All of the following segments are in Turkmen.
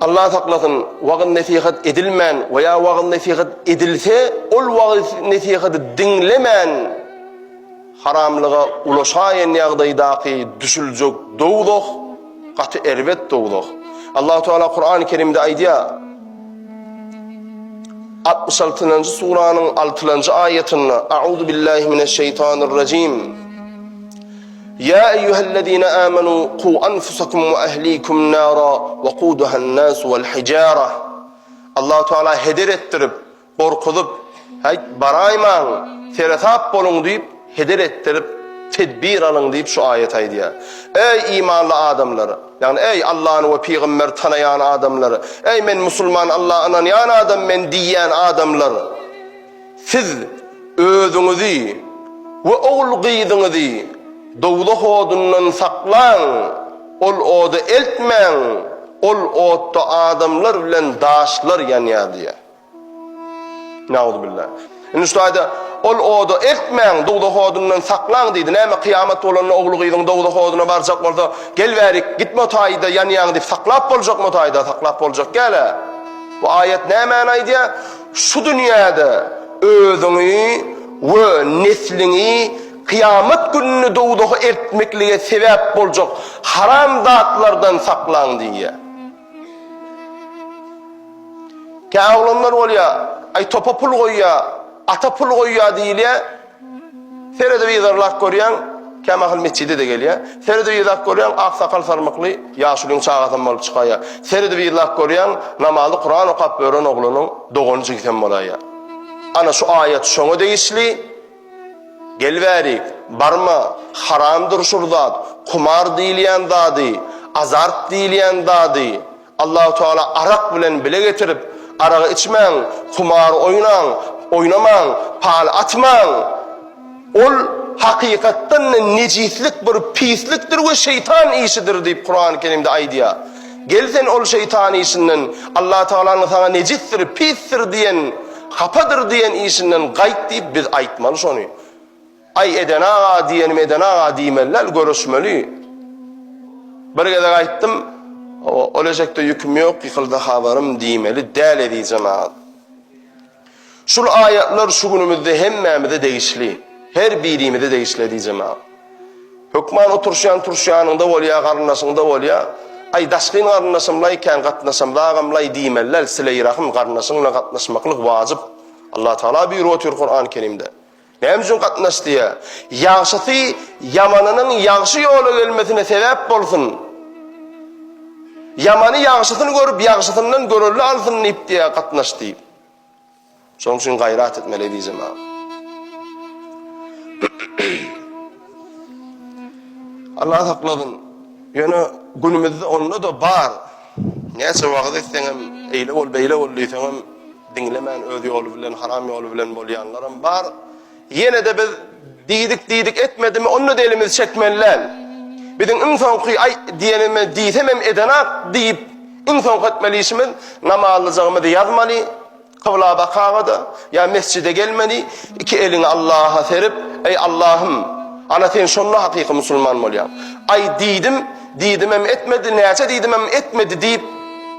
Allah saklasyn, wagyz-nesihat edilmän we ýa wagyz-nesihat edilse, ol wagyz-nesihady diňlemän haramlyga ulaşaýan ýagdaýdaky düşüljek dowzah gaty erbet dowzah. Allahu Teala Kur'an-ı Kerimde aýdýar. 66-njy suranyň 6-njy aýatynda A'uzu billahi mineşşeýtanirrejim. Ýa eýýuhellezine âmenû qû anfusakum we ehlikum nâra wekuduhennâsu vel hijâra. Allahu Teala heder etdirip, gorkuzyp, Haýt, baraýmaň, seresap boluň diýip, heder etdirip, tedbir alyň diýip şu aýat aýdýar. Eý imanly adamlar! Ýagny eý Allany we pygamberi tanaýan adamlar! Eý men musulman Alla ynanýan adam men diýýän adamlar! Siz özüňizi we ogul-gyzyňyzy dowzah odundan saklaň, ol oda eltmäň, ol otda adamlar bilen daşlar ýanýar diýýär. Nauzubilla. Indi şu aýda ol oda eltmäň, dowzah odundan saklaň diýdi. Näme, kyýamat bolanda ogul-gyzyň dowzah oduna barjak bolsa, gel bäri, gitme o taýda ýanýaň diýip saklap boljakmy o taýda, saklap boljak däl-ä. Bu aýat nämäni aýdýar? Şu dünýäde özüňi we nesliňi kyýamat gününe dowzaha eltmeklige sebäp boljak haram zatlardan saklaň diýýär. Kä oglanlar bolýar, aý topa pul goýýar, ata pul goýýar diýilýär, Telewizor lak görýän, kämahal metjide-de gelýä. Telewizor lak görýän, aksakal sarmykly ýaşulyň çagasam bolup çykaýa. Telewizor lak görýän, namazy Kuran okap ören oglanyň dogany jigisem bolaýa. Ana şu aýat şoňa degişli. Gel bäri, barma, haramdyr şur zat, kumar diýilýän zady, azart diýilýän zady. Allahu Teala arak bilen bile getirip, aragy içmäň, humar oýnaň, oýnamaň, pal atmaň. Ol hakykatdan-da nejislik bir pislikdir we şeýtan işidir diýip Kurany Kerimde aýdýar. Gel sen ol şeýtan işinden, Allahu Tealanyň saňa nejisdir, pisdir diýen, hapadyr diýen işinden gaýt diýip biz aýtmaly şony. Aý Eden aga diýenim Eden aga diýmeli däl görüşmeli. Bir gezek aýtdym ol eşekde ýüküm ýok ýykyldy habarym diýmeli däl ezijem aga. Şul aýatlar şu günümizde hemmämize degişli. Her birimize degişli ezijem aga. Hökman oturşýan turşýanyňda bolýa garyndaşyňda bolýa. Aý daşgyn garyndaşymlaý kän gatnaşamda agamlaý diýmeli däl sileýrahym garyndaşyň bilen gatnaşmaklyk wajyp. Allah Taala buýrup otyr Kuran Kerimde. Näme üçin gatnaş diýýär? Ýagşysy ýamanynyň ýagşy ýola gelmesine sebäp bolsun. Ýamany ýagşysyny görüp, ýagşysyndan görelde alsyn diýip diýýär gatnaş diýip. Şonuň üçin gaýrat etmeli eziz jemaat. Allah saklasyn. Ýöne günümizde onda-da bar. Näçe wagyz etseňem, eýle bol, beýle bol diýseňem diňlemän öz ýoly bilen, haram ýoly bilen bolýanlaram bar. Ýene-de biz diýdik, diýdik etmedimi, onda-da elimizi çekmeli däl. Biziň iň soňky aý diýenimiz diýsemem edenak diýip, iň soňky etmeli işimiz namazlyjygymyzy ýazmaly. Kybla bakanňa-da, ýa mesjide gelmeli, iki eliňi Allaha serip, Eý, Allahym, ana sen şonda hakyky musulman bolýaň. Aý, diýdim, diýdimem etmedi, näçe diýdimem etmedi diýip,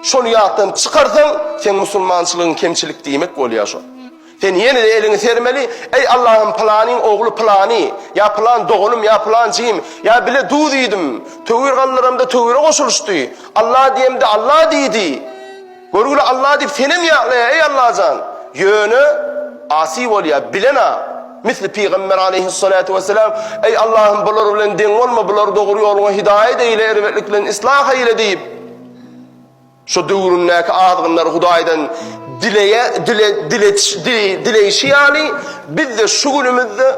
şony ýatdan çykarsaň, seň musulmançylygyň kemçilik diýmek bolýar şo. Sen ýene-de eliňi sermeli, Eý, Allahym, pylanyň ogly pylany, ýa pylan doganym, ýa pylan jigim, ýa bile duz iýdim, töwir galdyramda töwire goşulyşdy, Allah diýemde Allah diýdi. Görgüli Alla diýip senem ýatlaýar, eý Allajan! Ýöne, asy bolýar, bilen-ä, misli Pygamber aleýhis-salatu wesselam, Eý Allahym, bular bilen deň bolma, bulary dogry ýoluňa hidaýat eýle, erbetlik bilen yslah eýle diýip, şo döwründäki azgynlar Hudaýdan dileýä, dile, diletişi, dileýşi ýaly, biz-de şu günümizde,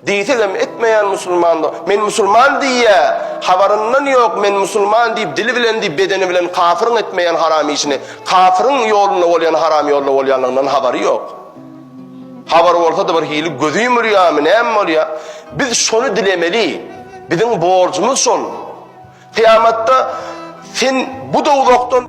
Diýsegem etmeýän musulmandygy, men musulman diýýä, habaryndan ýok, men musulman diýip dili bilen diýip bedeni bilen kafyryň etmeýän haram işini, kafyryň ýolunda bolýan haram ýolda bolýanlygyndan habary ýok. Habary bolsady bir hili gözi ýumulýamy näme bolýa? Biz şony dilemeli. Biziň borjumyz şol. Kyýamatda sen bu dowzahdan